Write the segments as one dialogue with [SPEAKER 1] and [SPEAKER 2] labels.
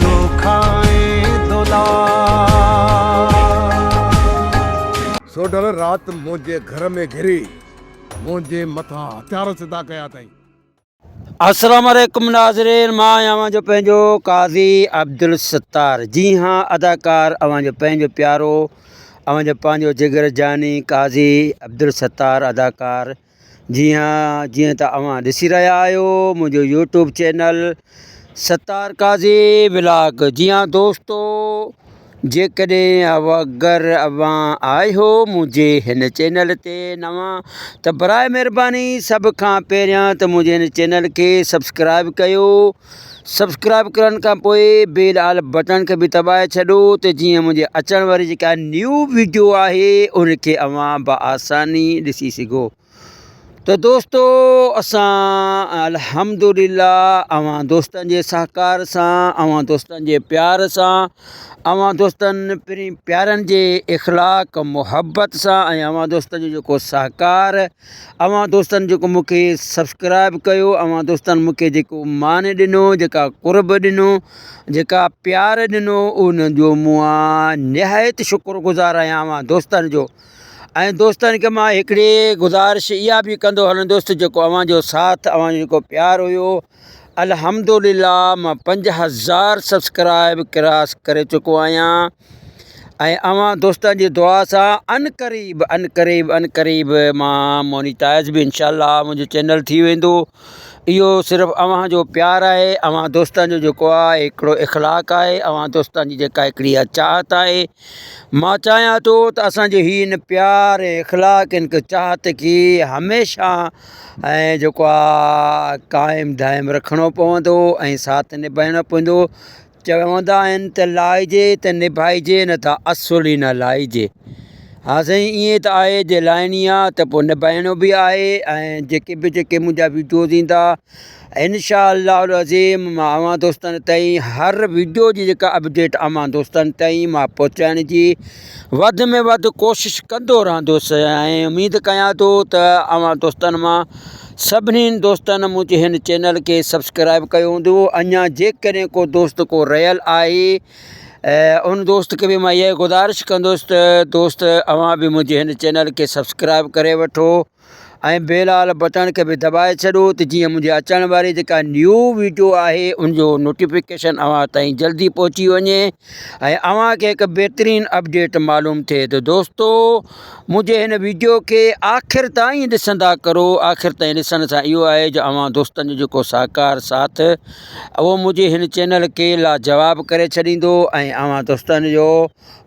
[SPEAKER 1] تو کانئن دولا. سوڍل رات منهنجي گهر ۾ گهري منهنجي مٿان هٿيار سڌا ڪيا اٿائين. السلام
[SPEAKER 2] عليڪم ناظرين مان آهيان اوهان جو پنهنجو قاضي عبدالستار جي ها اداڪار اوهان جو پنهنجو پيارو اوهان جو پنهنجو جگر جاني قاضي عبدالستار اداڪار جي ها جيئن ته اوهان ڏسي رهيا آهيو منهنجو YouTube channel Sattar Qazi vlog جي ها دوستو جيڪڏهن اگر اوهان آهيو منهنجي هن چينل تي نوان ته برائي مهرباني سڀ کان پهريان ته منهنجي هن چينل کي سبسڪرائب ڪيو سبسڪرائب ڪرڻ کان پوء بيل آل بٽڻ کي به دٻائي ڇڏو ته جيئن منهنجي اچڻ واري جيڪا نيو ويڊيو آهي ان کي اوهان بآساني ڏسي سگهو ته دوستو اسان الحمدلله اوهان دوستن جي سهڪار سان اوهان دوستن جي پيار سان اوهان دوستن پرين پيارن جي اخلاق محبت سان ۽ اوهان دوستن جو جيڪو سهڪار اوهان دوستن جيڪو مون کي سبسڪرائب ڪيو اوهان دوستن مون کي جيڪو مان ڏنو جيڪا قرب ڏنو جيڪا پيار ڏنو ان جو مان نهايت شڪر گذار آهيان اوهان دوستن جو ۽ دوستن کي مان هڪڙي گذارش اها به ڪندو هلندس ته جيڪو اوهان جو ساٿ اوهان جو جيڪو پيار هيو الحمدلله مان پنج هزار سبسڪرائب ڪراس ڪري چڪو آهيان ۽ اوهان دوستن جي دعا سان ان قريب ان قريب ان قريب مان مونيٽائز به انشاء الله منهنجو چينل ٿي ويندو اهو صرف اوهان جو پيار آهي اوهان دوستن جو جيڪو آهي هڪڙو اخلاق آهي اوهان دوستن جي جيڪا هڪڙي اها چاهت آهي مان چاهيان ٿو ته اسان جو هي ان پيار ۽ اخلاق ان چاهت کي هميشه ۽ جيڪو آ قائم دائم رکڻو پوندو ۽ ساٿ نڀائڻو پوندو چوندا آهن ته لائجي ته نڀائجي نه ته اصل ئي نه لائجي ها سائين ائين ته آهي جي لائڻي آ ته پو نڀائڻو به آهي ۽ جيڪي به جيڪي منهنجا ويڊيوز ايندا انشاء الله العظيم مان اوهان دوستن تائين هر ويڊيو جي جيڪا اپڊيٽ اوهان دوستن تائين مان پهچائڻ جي وڌ ۾ وڌ ڪوشش ڪندو رهندوس ۽ اميد ڪيان ٿو ته اوهان دوستن مان سڀني دوستن منهنجي هن چينل کي سبسڪرائب ڪيو هوندو اڃا جيڪڏهن ڪو دوست ڪو رهيل آهي ان دوست کي به مان اها گذارش ڪندوس ته دوست اوهان به منهنجي هن چينل کي سبسڪرائب ڪري وٺو ۽ بيلال بٽڻ کي به دٻائي ڇڏو ته جيئن منهنجي اچڻ واري جيڪا نيو ويڊيو آهي ان جو نوٽيفڪيشن اوهان تائين جلدي پهچي وڃي ۽ اوهان کي هڪ بهترين اپڊيٽ معلوم ٿئي ته دوستو منهنجي هن ويڊيو کي آخر تائين ڏسندا ڪرو آخر تائين ڏسڻ سان اهو آهي جو اوهان دوستن جو جيڪو ساهڪار ساٿ اهو منهنجي هن چينل کي لاجواب ڪري ڇڏيندو ۽ اوهان دوستن جو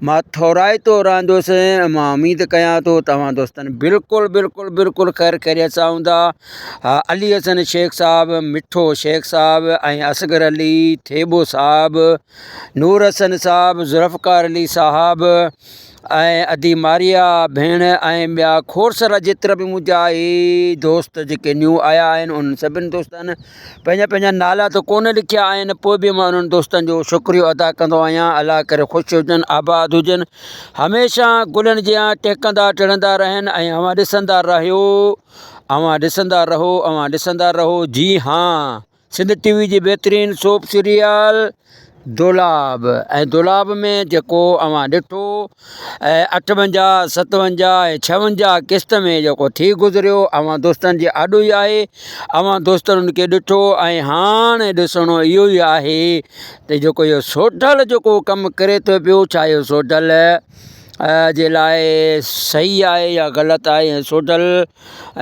[SPEAKER 2] مان ٿورائتو رهندس ۽ مان اميد ڪيان ٿو توهان دوستن بلڪل بلڪل بلڪل خير خيريت سان هوندا علي حسن شيخ صاحب مٺو شيخ صاحب ۽ اصغر علي ٿيٻو صاحب نور حسن صاحب ذوالفقار علي صاحب ۽ ادي ماريا ڀيڻ ۽ ٻيا کورسرا جيترا به منهنجا هي دوست جيڪي نيو آيا آهن انهن سڀني دوستن پنهنجا پنهنجا نالا ته ڪونه لکيا آهن پوء به مان انهن دوستن جو شڪريو ادا ڪندو آهيان الله ڪري خوش هجن آباد هجن هميشه گلن جيان ٽهڪندا ٽڙندا رهن ۽ اوهان ڏسندا رهيو اوهان ڏسندا رهو اوهان ڏسندا رهو جي هان سنڌ ٽي وي جي بهترين سوپ سيريل دولاب ۽ دولاب ۾ جيڪو اوهان ڏٺو ۽ اٺونجاهه ستونجاهه ۽ ڇونجاهه قسط ۾ جيڪو ٿي گذريو اوهان دوستن جي آڏو ئي آهي اوهان دوستن ان کي ڏٺو ۽ هاڻ ڏسڻو اهو ئي آهي ته جيڪو اهو سوڍل جيڪو ڪم ڪري ٿو پيو ڇا اهو سوڍل جي لاء صحيح آهي يا غلط آهي ۽ سوڍل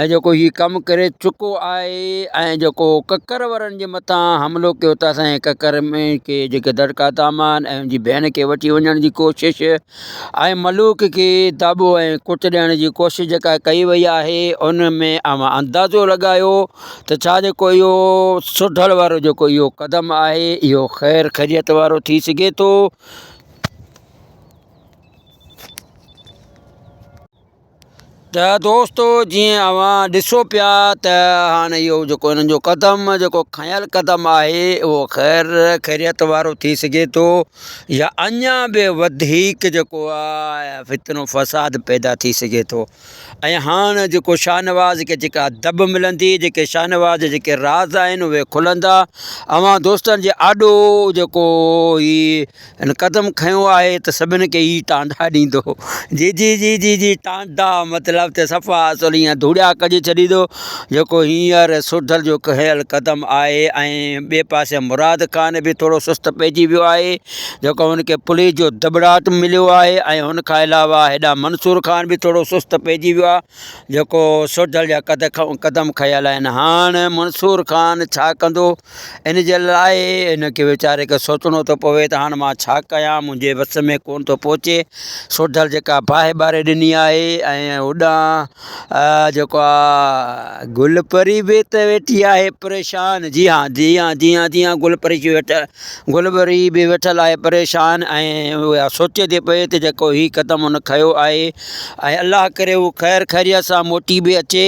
[SPEAKER 2] ۽ جيڪو هي ڪم ڪري چڪو آهي ۽ جيڪو ڪڪر ورن جي مٿان حملو ڪيو ته اسان جي ڪڪر ۾ کي جيڪي دڙڪا دامان ۽ ان جي ڀيڻ کي وٺي وڃڻ جي ڪوشش ۽ ملوڪ کي داٻو ۽ ڪٽ ڏيڻ جي ڪوشش جيڪا ڪئي وئي آهي ان ۾ اوهان اندازو لڳايو ته ڇا جيڪو اهو سڍڙ وارو جيڪو اهو قدم آهي اهو خير خيريت وارو ٿي سگهي ٿو ته دوستو جيئن اوهان ڏسو پيا ته هاڻي اهو جيڪو هنن جو قدم جيڪو کنيل قدم آهي اهو خير خيريت وارو ٿي سگهي ٿو يا اڃا به وڌيڪ جيڪو آهي فتنو فساد پيدا ٿي سگهي ٿو ۽ هاڻ جيڪو شاهنواز کي جيڪا دٻ ملندي جيڪي شاهنواز جا جيڪي راز آهن اهي کلندا اوهان دوستن جي آڏو جيڪو هي هن قدم کنيو آهي ته سڀن کي هي ٽانڊا ڏيندو. جي جي جي جي جي ٽانڊا مطلب ته صفا اصل ايئن ڌوڙيا ڪڍي ڇڏيندو جيڪو هينئر سوڍل جو کنيل قدم آهي ۽ ٻئي پاسي مراد خان به ٿورو سست پئجي ويو آهي جيڪو هن کي پوليس جو دٻڙاٽ مليو آهي ۽ هن کان علاوه هيڏانهن منصور خان به ٿورو سست پئجي ويو آهي جيڪو سوڍل جا قدم کنيل آهن هاڻ منصور خان ڇا ڪندو ان جي لاء هن کي ويچاري کي سوچڻو ٿو پوي ته هاڻ مان ڇا ڪيان، منهنجي وس ۾ ڪونه ٿو پهچي. سوڍل جيڪا باهه ٻاري ڏني آهي ۽ هوڏانهن جيڪو آ گل پري به ته ويٺي آهي پريشان. جي ها، جي ها، جي ها، جي ها، گل پري ويٺل، گل پري به ويٺل آهي پريشان ۽ اها سوچي ٿي پئي ته جيڪو هي قدم هن کنيو آهي ۽ الله ڪري هو خير خيريت سان موٽي به اچي.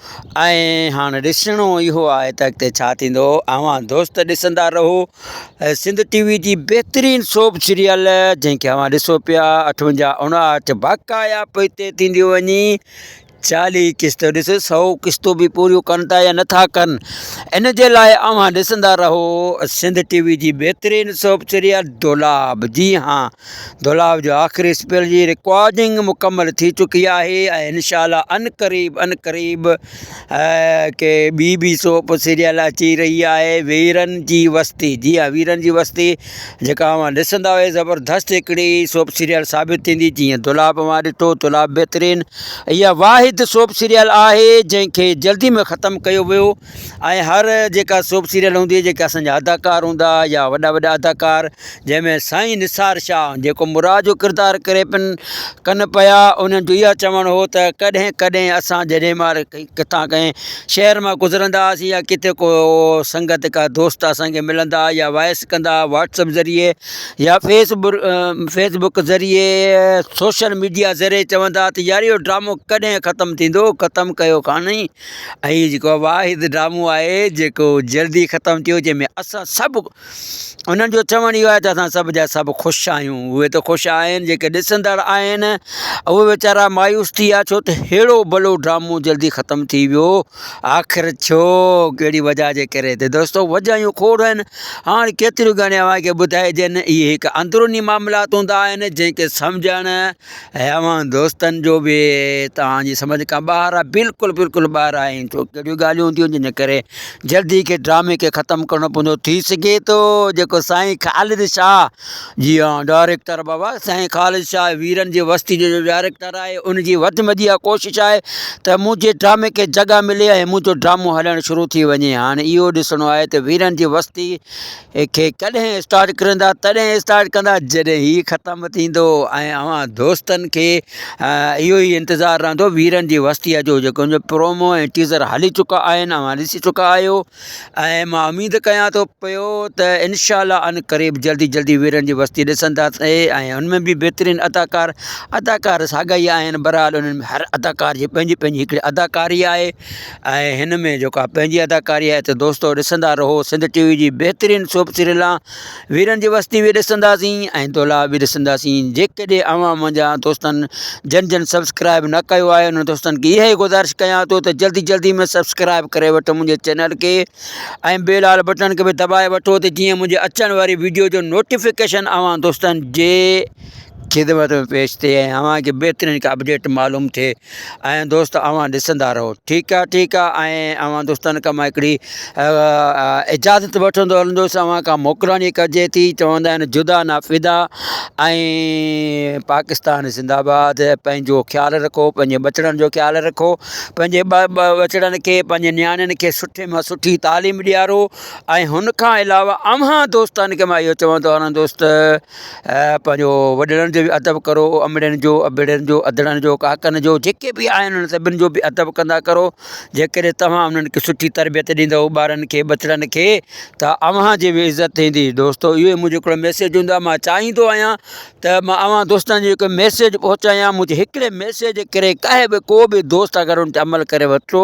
[SPEAKER 2] ۽ هاڻ ڏسڻو اهو آهي ته اڳتي ڇا ٿيندو اوهان دوست ڏسندا رهو سنڌ ٽي وي جي بهترين سوپ سيريل جنهن کي اوهان ڏسو پيا اٺونجاهه اڻاهٺ باقايا پوء تي ٿينديون وڃي چاليهه قسط ڏس سو قسطون به پوريون ڪن ٿا يا نٿا ڪن ان جي لاء اوهان ڏسندا رهو سنڌ ٽي وي جي بهترين سوپ سيريل دولاب جي هاڻ دولاب جو آخري اسپيل جي رڪارڊنگ مڪمل ٿي چڪي آهي ۽ انشاء الله ان قريب ان قريب ڪي ٻي بي سوپ سيريل اچي رهي آهي ويرن جي وستي جي ها ويرن جي وستي جيڪا اوهان ڏسندا هئي زبردست هڪڙي سوپ سيريل ثابت ٿيندي جيئن دولاب اوهان ڏٺو دولاب بهترين اها واحد سوپ سيريل آهي جنهن کي جلدي ۾ ختم ڪيو ويو ۽ هر جيڪا سوپ سيريل هوندي جيڪي اسان جا اداڪار هوندا يا وڏا وڏا اداڪار جنهن ۾ سائين نثار شاهه جيڪو مراد جو ڪردار ڪري پن ڪن پيا انهن جو اها چوڻ هو ته ڪڏهن ڪڏهن اسان جڏهن مار ڪٿان ڪنهن شهر مان گذرندا هئاسين يا ڪٿي ڪو سنگت ڪا دوست اسانکي ملندا يا وائس ڪندا واٽسپ ذريعي يا فيس بر فيس بڪ ذريعي سوشل ميڊيا ذريعي چوندا ته يار اهو ڊرامو ڪڏهن ختم ٿيندو ختم ڪيو ڪانهين هي جيڪو واحد ڊرامو آهي جيڪو جلدي ختم ٿيو جنهن ۾ اسان سڀ انهن جو چوڻ اهو آهي ته اسان سڀ جا سڀ خوش آهيون اهي ته خوش آهن جيڪي ڏسندڙ آهن اهي ويچارا مايوس ٿي ويا ڇو ته ههڙو ڀلو ڊرامو جلدي ختم ٿي ويو آخر ڇو ڪهڙي وجہ جي ڪري ته دوستو وجهيون کوڙ آهن هاڻي ڪيتريون ڳڻيا اوهان کي ٻڌائجن اهي هڪ اندروني معاملات هوندا آهن جنهن کي سمجهڻ ۽ اوهان دوستن جو به توهان جي سمجھ کان ٻاهر آهي بلڪل بلڪل ٻاهر آهي ۽ ڇو ڪهڙيون ڳالهيون ٿيون جن ڪري جلدي کي ڊرامي کي ختم ڪرڻو پوندو ٿي سگهي ٿو جيڪو سائين خالد شاهه جي ها ڊائريڪٽر بابا سائين خالد شاهه ويرن جي وستي جو جو ڊائريڪٽر آهي ان جي وڌ مدي اها ڪوشش آهي ته منهنجي ڊرامي کي جڳهه ملي ۽ منهنجو ڊرامو هلڻ شروع ٿي وڃي هاڻي اهو ڏسڻو آهي ته ويرن جي وستي کي ڪڏهن اسٽارٽ ڪرندا تڏهن اسٽارٽ ڪندا جڏهن هي ختم ٿيندو ۽ اوهان دوستن کي اهو ئي انتظار رهندو ويرن جي وستيء جو جيڪو ان جو پرومو ۽ ٽيزر هلي چڪا آهن اوهان ڏسي چڪا آهيو ۽ مان اميد ڪيان ٿو پيو ته انشاء الله ان قريب جلدي جلدي ويرن جي وستي ڏسندا ۽ ان ۾ به بهترين اداڪار اداڪار ساڳا ئي آهن برحال انهن ۾ هر اداڪار جي پنهنجي پنهنجي هڪڙي اداڪاري آهي آهي هن ۾ جيڪا پنهنجي اداڪاري آهي ته دوستو ڏسندا رهو سنڌ ٽي وي جي بهترين سوپ سريلا ويرن جي وستي به ڏسنداسين ۽ دولا به ڏسنداسين جيڪڏهن اوهان منهنجا دوستن جن جن سبسڪرائب نه ڪيو آهي انهن دوستن کي اهي گذارش ڪيان ٿو ته جلدي جلدي ۾ سبسڪرائب ڪري وٺ منهنجي چينل کي ۽ بيل آل بٽن کي به دٻائي وٺو ته جيئن منهنجي اچڻ واري ويڊيو جو نوٽيفڪيشن اوهان دوستن جي خدمت ۾ پيش ٿئي ۽ اوهان کي بهترين ڪا اپڊيٽ معلوم ٿئي ۽ دوست اوهان ڏسندا رهو. ٺيڪ آ ٺيڪ آ ۽ اوهان دوستن کان مان هڪڙي اجازت وٺندو هلندس اوهان کان موڪلاڻي ڪجي ٿي چوندا آهن جدا نه فدا ۽ پاڪستان زنده آباد پنهنجو خيال رکو پنهنجي ٻچڙن جو خيال رکو پنهنجي ٻچڙن کي پنهنجي نياڻين کي سٺي مان سٺي تعليم ڏيارو ۽ هن کان علاوه اوهان دوستن کي مان اهو چوندو هلندس ته ۽ پنهنجو وڏڙن جو به ادب ڪرو امڙين جو ابڙين جو اڌڙن جو ڪاڪن جو جيڪي بي آهن انهن سڀن جو بي ادب ڪندا ڪرو جي ڪڏهن توهان انهن کي سٺي تربيت ڏيندو ٻارن کي ٻچڙن کي ته اوهان جي به عزت ٿيندي دوستو اهو منهنجو هڪڙو ميسيج هوندو آهي مان چاهيندو آهيان ته مان اوهان دوستن جي هڪ ميسيج پهچايان منهنجي هڪڙي ميسيج ڪري ڪاهي به ڪو به دوست اگر ان تي عمل ڪري ورتو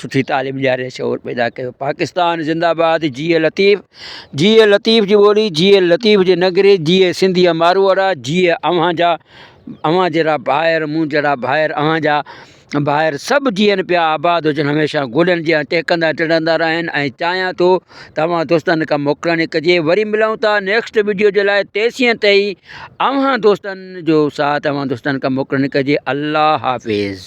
[SPEAKER 2] سٺي تعليم ڏياري شعور پيدا ڪيو پاڪستان زنده آباد جيئي لطيف جيئي لطيف جي ٻولي جيئي لطيف جي نگري جيئي سنڌيء ماروئڙا جيئي اوهان جا اوهان جهڙا ڀائر مون جهڙا ڀائر اوهان جا ڀائر سڀ جيئن پيا آباد هجن هميشه گلن جيئا ٽهڪندا ٽڙندا رهن ۽ چاهيان ٿو توهان دوستن کان موڪلڻي ڪجي وري ملون ٿا نيڪسٽ ويڊيو جي لاء تيسين تائي اوهان دوستن جو ساٿ اوهان دوستن کان موڪلڻي ڪجي الله حافظ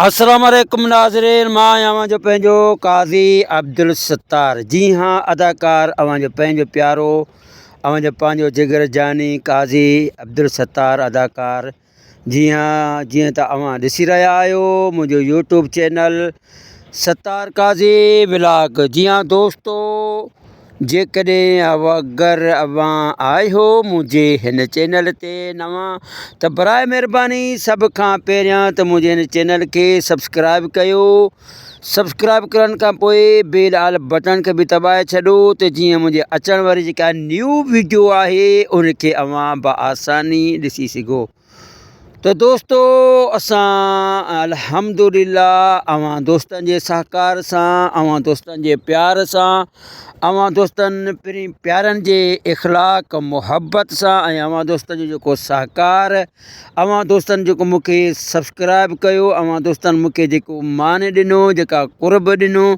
[SPEAKER 2] السلام عليڪم ناظرين مان آهيان اوهان جو پنهنجو قاضي عبدالستار جي ها اداڪار اوهان جو پنهنجو پيارو اوهان جو پنهنجو جگر جاني قاضي عبدالستار اداڪار جي ها جيئن ته اوهان ڏسي رهيا آهيو منهنجو YouTube channel Sattar Qazi vlog جي ها دوستو جيڪڏهن اگر اوهان آهيو منهنجي هن چينل تي نوان ته براء مهرباني سڀ کان پهريان ته منهنجي هن چينل کي سبسڪرائب ڪيو سبسڪرائب ڪرڻ کان پوء بيل آل بٽڻ کي بي دٻائي ڇڏو ته جيئن منهنجي اچڻ واري جيڪا نيو ويڊيو آهي ان کي اوهان بآساني ڏسي سگهو ته دوستو اسان الحمدلله اوهان دوستن جي سهڪار سان اوهان دوستن جي پيار سان اوهان دوستن پرين پيارن جي اخلاق محبت سان ۽ اوهان دوستن جو جيڪو سهڪار اوهان دوستن جيڪو مونکي سبسڪرائب ڪيو اوهان دوستن مونکي جيڪو مان ڏنو جيڪا قرب ڏنو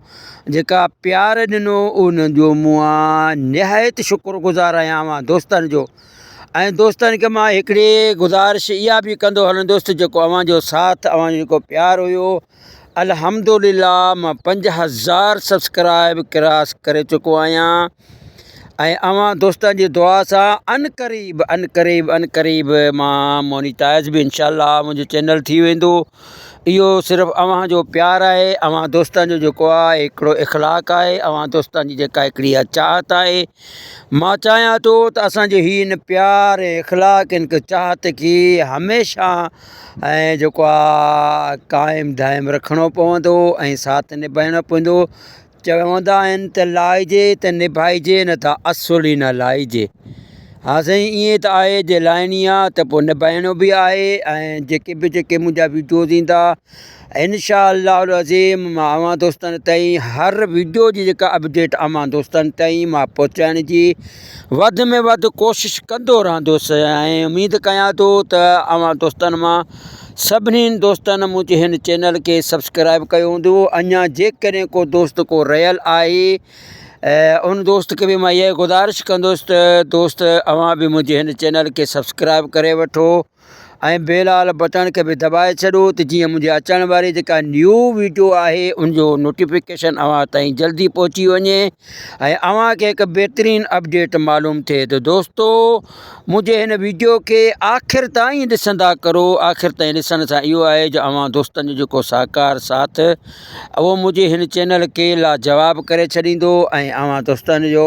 [SPEAKER 2] جيڪا پيار ڏنو ان جو مون نهايت شڪر گذار آهيان اوهان دوستن جو ۽ دوستن کي مان هڪڙي گذارش اها به ڪندو هلان دوست جيڪو اوهان جو ساٿ اوهان جو جيڪو پيار هيو الحمدلله مان پنج هزار سبسڪرائب ڪراس ڪري چڪو آهيان ۽ اوهان دوستن جي دعا سان ان قريب ان قريب ان قريب مان مونيٽائز به انشاء الله منهنجو چينل ٿي ويندو اهو صرف اوهان جو پيار آهي اوهان دوستن جو جيڪو آهي هڪڙو اخلاق آهي اوهان دوستن جي جيڪا هڪڙي اها چاهت آهي مان چاهيان ٿو ته اسان جي هي ان پيار ۽ اخلاق ۽ هڪ چاهت کي هميشه ۽ جيڪو آهي قائم دائم رکڻو پوندو ۽ ساٿ نڀائڻو پوندو چوندا آهن ته لائجي ته نڀائجي نه ته اصل ئي نه لائجي ها سائين ائين ته آهي جي لائڻي آهي ته پوء نڀائڻو به آهي ۽ جيڪي به جيڪي منهنجا وڊيوز ايندا انشاء الله العظيم مان اوهان دوستن تائين هر ويڊيو جي جيڪا اپڊيٽ اوهان دوستن تائين مان پهچائڻ جي وڌ ۾ وڌ ڪوشش ڪندو رهندوسي ۽ اميد ڪيان ٿو ته اوهان دوستن مان سڀني دوستن منهنجي هن چينل کي سبسڪرائب ڪيو هوندو اڃا جيڪڏهن ڪو دوست ڪو رهيل آهي ان دوست کي به مان اها گذارش ڪندوس ته دوست اوهان به منهنجي هن چينل کي سبسڪرائب ڪري وٺو ۽ بيل آل بٽڻ کي به دٻائي ڇڏو ته جيئن منهنجي اچڻ واري جيڪا نيو ويڊيو آهي ان جو نوٽيفڪيشن اوهان تائين جلدي پهچي وڃي ۽ اوهان کي هڪ بهترين اپڊيٽ معلوم ٿئي ته دوستو منهنجي هن ويڊيو کي آخر تائين ڏسندا ڪرو آخر تائين ڏسڻ سان اهو آهي جو اوهان دوستن جو جيڪو ساهڪار ساٿ اهو منهنجي هن چينل کي لاجواب ڪري ڇڏيندو ۽ اوهان دوستن جو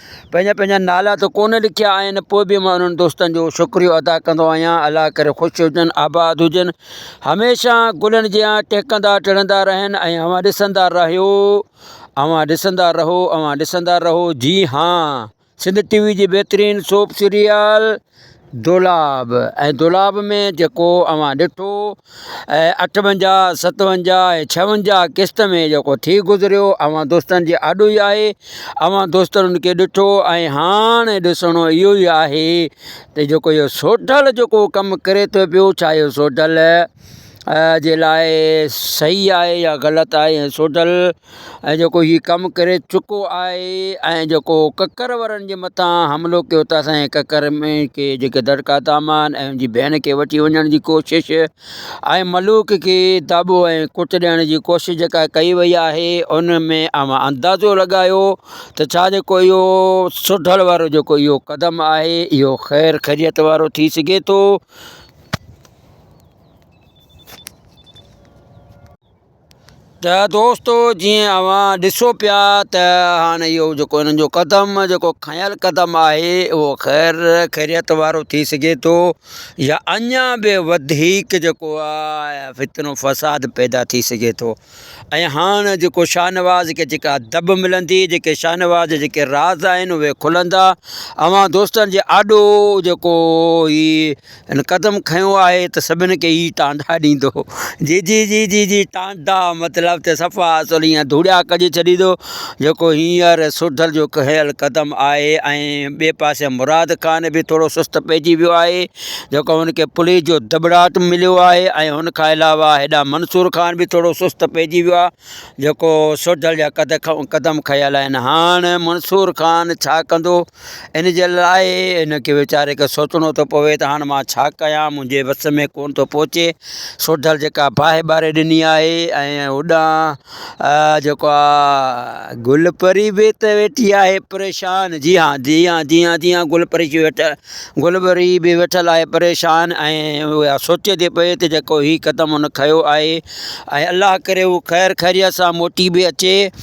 [SPEAKER 2] پنهنجا پنهنجا نالا ته ڪونه لکيا آهن پوء به مان انهن دوستن جو شڪريو ادا ڪندو آهيان الله ڪري خوش هجن آباد هجن هميشه گلن جيان ٽهڪندا ٽڙندا رهن ۽ اوهان ڏسندا رهيو اوهان ڏسندا رهو اوهان ڏسندا رهو جي هان سنڌ ٽي وي جي بهترين سوپ سيريل دولاب ۽ دولاب ۾ جيڪو اوهان ڏٺو ۽ اٺونجاهه ستونجاهه ۽ ڇاونجاهه قسط ۾ جيڪو ٿي گذريو اوهان دوستن جي آڏو ئي آهي اوهان دوستن ان کي ڏٺو ۽ هاڻ ڏسڻو اهو ئي آهي ته جيڪو اهو سوڍل جيڪو ڪم ڪري ٿو پيو ڇا اهو سوڍل جي لاء صحيح آهي يا غلط آهي سوڍل ۽ جيڪو هي ڪم ڪري چڪو آهي ۽ جيڪو ڪڪر ورن جي مٿان حملو ڪيو ته اسان جي ڪڪر ۾ کي جيڪي دڙڪا دامان ۽ ان جي ڀيڻ کي وٺي وڃڻ جي ڪوشش ۽ ملوڪ کي داٻو ۽ ڪٽ ڏيڻ جي ڪوشش جيڪا ڪئي وئي آهي ان ۾ اوهان اندازو لڳايو ته ڇا جيڪو اهو سڍڙ وارو جيڪو اهو قدم آهي اهو خير خيريت وارو ٿي سگهي ٿو ته دوستو جيئن اوهان ڏسو پيا ته هاڻ اهو جيڪو هنن جو قدم جيڪو کنيل قدم آهي اهو خير خيريت وارو ٿي سگهي ٿو يا اڃا به وڌيڪ جيڪو آهي فتنو فساد پيدا ٿي سگهي ٿو ۽ هاڻ جيڪو شاهنواز کي جيڪا دب ملندي جيڪي شاهنواز جيڪي راز آهن اهي کلندا اوهان دوستن جي آڏو جيڪو هي ان قدم کنيو آهي ته سڀن کي هي ٽانڊا ڏيندو. جي جي جي جي جي ٽانڊا مطلب ته صفا اصل ايئن ڌوڙيا ڪجي ڇڏيندو جيڪو هينئر سوڍل جو کنيل قدم آهي ۽ ٻئي پاسي مراد خان به ٿورو سست پئجي ويو آهي جيڪو هن کي پوليس جو دٻڙاٽ مليو آهي ۽ هن کان علاوه هيڏانهن منصور خان به ٿورو سست پئجي ويو آهي جيڪو سوڍل جا قدم کنيل آهن هاڻ منصور خان ڇا ڪندو ان جي لاء هن کي ويچاري کي سوچڻو ٿو پوي ته هاڻ مان ڇا ڪيان، منهنجي وس ۾ ڪونه ٿو پهچي. سوڍل جيڪا باهه ٻاري ڏني آهي ۽ هوڏانهن جيڪو آ گل پري به ته ويٺي آهي پريشان. جي ها، جي ها، جي ها، جي ها، گل پري ويٺل، گل پري به ويٺل آهي پريشان ۽ اها سوچي ٿي پئي ته جيڪو هي قدم هن کنيو آهي ۽ الله ڪري هو خير خيريت سان موٽي به اچي.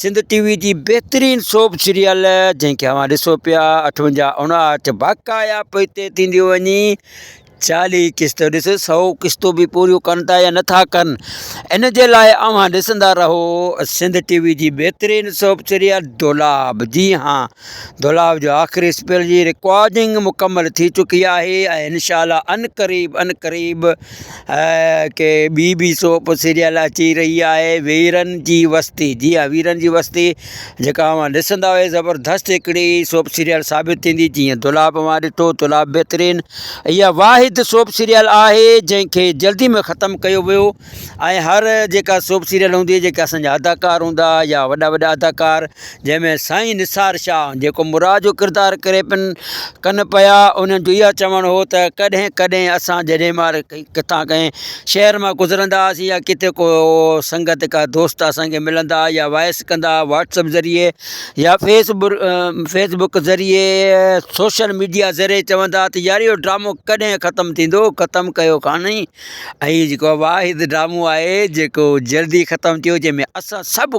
[SPEAKER 2] سنڌ ٽي وي جي بهترين سوپ سيريل جنهن کي اوهان ڏسو پيا اٺونجا اڻاهٺ باقايا پئي طئي ٿينديون وڃي چاليهه قسط ڏس سو قسطو به پوريون ڪن ٿا يا نٿا ڪن ان جي لاء اوهان ڏسندا رهو سنڌ ٽي وي جي بهترين سوپ سيريل دولاب جي ها دولاب جو آخري اسپيل جي رڪارڊنگ مڪمل ٿي چڪي آهي ۽ انشاء الله ان قريب ان قريب ڪي ٻي به سوپ سيريل اچي رهي آهي ويرن جي وستي جي ها ويرن جي وستي جيڪا اوهان ڏسندا اهي زبردست هڪڙي سوپ سيريل ثابت ٿيندي جيئن دولاب اوهان ڏٺو دولاب بهترين اها واحد سوپ سيريل آهي جنهن کي جلدي ۾ ختم ڪيو ويو ۽ هر جيڪا سوپ سيريل هوندي جيڪا اسانجا اداڪار هوندا يا وڏا وڏا اداڪار جنهن ۾ سائين نثار شاهه جيڪو مراد جو ڪردار ڪري پن ڪن پيا انهن جو اها چوڻ هو ته ڪڏهن ڪڏهن اسان جڏهن مار ڪٿان ڪنهن شهر مان گذرندا هئاسين يا ڪٿي ڪو سنگت ڪا دوست اسان کي ملندا هئا يا وائس ڪندا هئا واٽس اپ ذريعي يا فيس بر فيس بڪ ذريعي سوشل ميڊيا ذريعي چوندا هئا ته يار اهو ڊرامو ڪڏهن ختم ٿيندو ختم ڪيو ڪانه ۽ هي جيڪو واحد ڊرامو آهي جيڪو جلدي ختم ٿيو جنهن ۾ اسان سڀ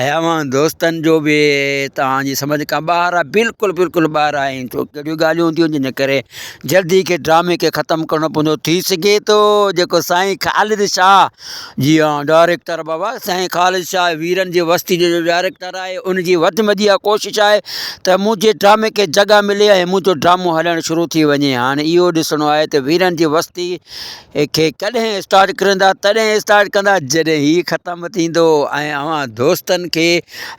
[SPEAKER 2] اي اوهان دوستن جو به توهان جي سمجھ کان ٻاهر آهي بلڪل بلڪل ٻاهر آهي ڇو ڪهڙيون ڳالهيون ٿيون جن ڪري جلدي کي ڊرامي کي ختم ڪرڻو پوندو ٿي سگهي ٿو جيڪو سائين خالد شاهه جي ها ڊائريڪٽر بابا سائين خالد شاهه ويرن جي وستي جو جو ڊائريڪٽر آهي ان جي وڌ مدي اها ڪوشش آهي ته منهنجي ڊرامي کي جڳهه ملي ۽ منهنجو ڊرامو هلڻ شروع ٿي وڃي هاڻي اهو ڏسڻو آهي ته ويرن جي وستي کي ڪڏهن اسٽارٽ ڪرندا تڏهن اسٽارٽ ڪندا جڏهن هي ختم ٿيندو ۽ اوهان دوستن کي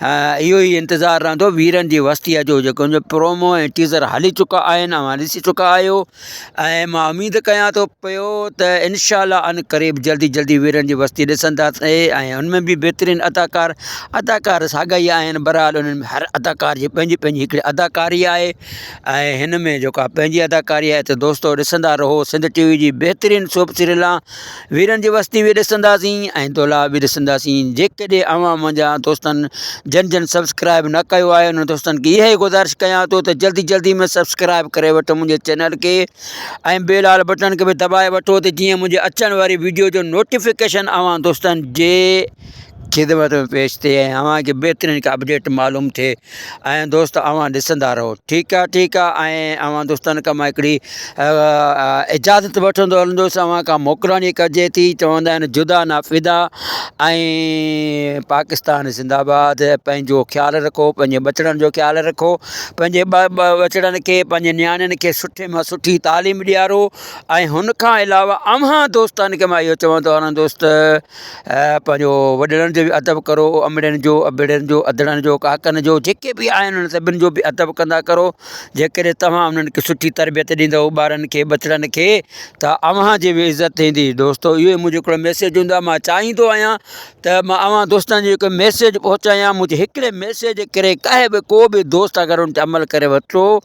[SPEAKER 2] اهو ئي انتظار رهندو ويرن جي وستيء جو جيڪو ان جو پرومو ۽ ٽيزر هلي چڪا آهن اوهان ڏسي چڪا آهيو ۽ مان اميد ڪيان ٿو پيو ته انشاء الله ان قريب جلدي جلدي ويرن جي وستي ڏسندا ۽ ان ۾ به بهترين اداڪار اداڪار ساڳا ئي آهن برحال انهن ۾ هر اداڪار جي پنهنجي پنهنجي هڪڙي اداڪاري آهي آهي هن ۾ جيڪا پنهنجي اداڪاري آهي ته دوستو ڏسندا رهو سنڌ ٽي وي جي بهترين سوپ سيريل آ ويرن جي وستي بي ڏسنداسين ۽ دولاب بي ڏسنداسين جيڪڏهن اوهان منهنجا دوستن جن جن سبسڪرائب نه ڪيو آهي انهن دوستن کي اهي گذارش ڪيان ٿو ته جلدي جلدي ۾ سبسڪرائب ڪري وٺو منهنجي چينل کي ۽ بي لال بٽن کي به دٻائي وٺو ته جيئن منهنجي اچڻ واري ويڊيو جو نوٽيفڪيشن اوهان دوستن جي خدمت ۾ پيش ٿئي ۽ اوهان کي بهترين ڪا اپڊيٽ معلوم ٿئي ۽ دوست اوهان ڏسندا رهو ٺيڪ آ ٺيڪ آ ۽ اوهان دوستن کان مان هڪڙي اجازت وٺندو هلندوس اوهان کان موڪلاڻي ڪجي ٿي چوندا آهن جدا نه فدا ۽ پاڪستان زنده آباد پنهنجو خيال رکو پنهنجي ٻچڙن جو خيال رکو پنهنجي ٻچڙن کي پنهنجي نياڻين کي سٺي مان سٺي تعليم ڏيارو ۽ هن کان علاوه اوهان دوستن کي مان اهو چوندو هلندوس ته پنهنجو وڏڙن جو به ادب ڪرو امڙين جو ابڙين جو اڌڙن جو ڪاڪن جو جيڪي به آهن انهن سڀني جو به ادب ڪندا ڪرو جي ڪڏهن تمام انهن کي سٺي تربيت ڏيندو ٻارن کي ٻچڙن کي ته اوهان جي به عزت ٿيندي دوستو اهو منهنجو هڪڙو ميسيج هوندو آهي مان چاهيندو آهيان ته مان اوهان دوستن جي هڪ ميسيج پهچايان منهنجي هڪڙي ميسيج ڪري ڪاهي به ڪو به دوست اگر ان تي عمل ڪري ورتو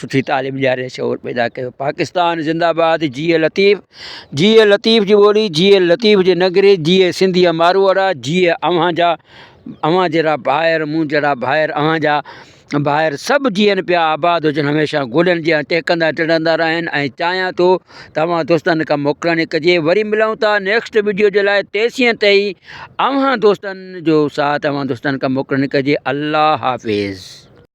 [SPEAKER 2] سٺي تعليم ڏياري شعور پيدا ڪيو پاڪستان زنده باد جيئي لطيف جيئي لطيف جي ٻولي جيئي لطيف جي نگري جيئي سنڌيء ماروئڙا جيئي اوهان جا اوهان جهڙا ڀائر مون جهڙا ڀائر اوهان جا ڀائر سڀ جيئن پيا آباد هجن هميشه گولن جيان ٽهڪندا ٽڙندا رهن ۽ چاهيان ٿو ته اوهان دوستن کان موڪلڻي ڪجي وري ملون ٿا نيڪسٽ ويڊيو جي لاء تيسين تائين اوهان دوستن جو ساٿ اوهان دوستن کان موڪلڻي ڪجي الله حافظ